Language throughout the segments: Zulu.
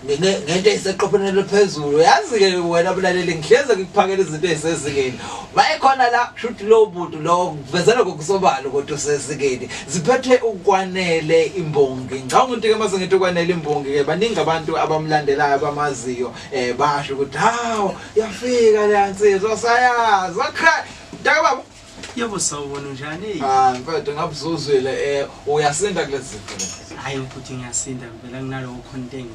ngento eyiseqophelweni eliphezulu yazi-ke wena bulaleli ngihleze ngikuphakela izinto eyisezingeni mayekhona la shuthi lowo muntu lowo kuvezela kokusobala ukuthi usezingeni ziphethe ukwanele imbongi ngicabanga ukuthi-ke uma sengithi ukwanele imbongi-ke baningi abantu abamlandelayo abamaziyo um basho ukuthi hawu yafika leya nsizwa sayazi wakha mntakababa Yebo sawubona njani? Ah, mfethu ngabe uzozwela eh uyasinda kulezi zinto. Hayi mfuthu ngiyasinda ngivela kunalowo content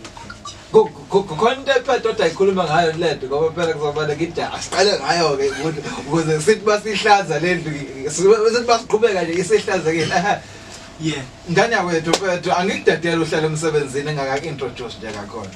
ngikho. Content mfethu othi ayikhuluma ngayo lento ngoba phela kuzobana ngida asiqale ngayo ke ukuthi ukuze sithi basihlaza lendlu sithi basiqhubeka nje isihlazekile. Yeah. Ngane yakwethu mfethu angikudedela uhlale emsebenzini engaka introduce nje kakhona.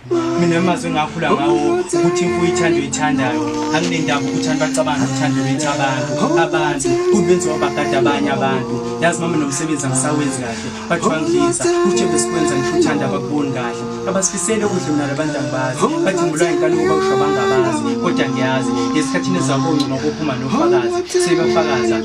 mina amazi engakhula ngawo ukuthi imfuyo ithanda oyithandayo anginendaba ukuthi abantu bacabanga uthando lwethu abantu abantu kubenziwa bagada abanye abantu yazi mama nomsebenzi angisawenzi kahle bathi wangidlisa uthe besikwenza ngisho uthanda abakuboni kahle abasifisele ukudla mina labantu angibazi bathi ngulwa inkani ukuba usho abangabazi kodwa ngiyazi ngesikhathini ezakongcuma kophuma nofakazi sebafakaza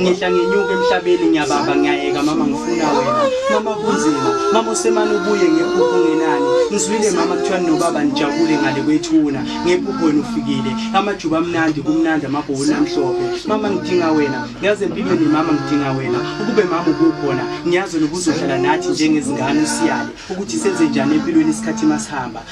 ngehla ngenyuka emhlabeni ngiyababa ngiyayeka mama ngifuna wena mama kunzima mama usemane ubuye ngephupho ngenani ngizwile mama kuthiwa nobaba nijabule ngale kwethuna ngephupho wena ufikile amajuba amnandi kumnandi amabhowuni amhlophe mama ngidinga wena ngiyazi empilweni mama ngidinga wena ukube mama ukukhona ngiyazi nokuzohlala nathi njengezingane usiyale ukuthi senze njani empilweni isikhathi masihamba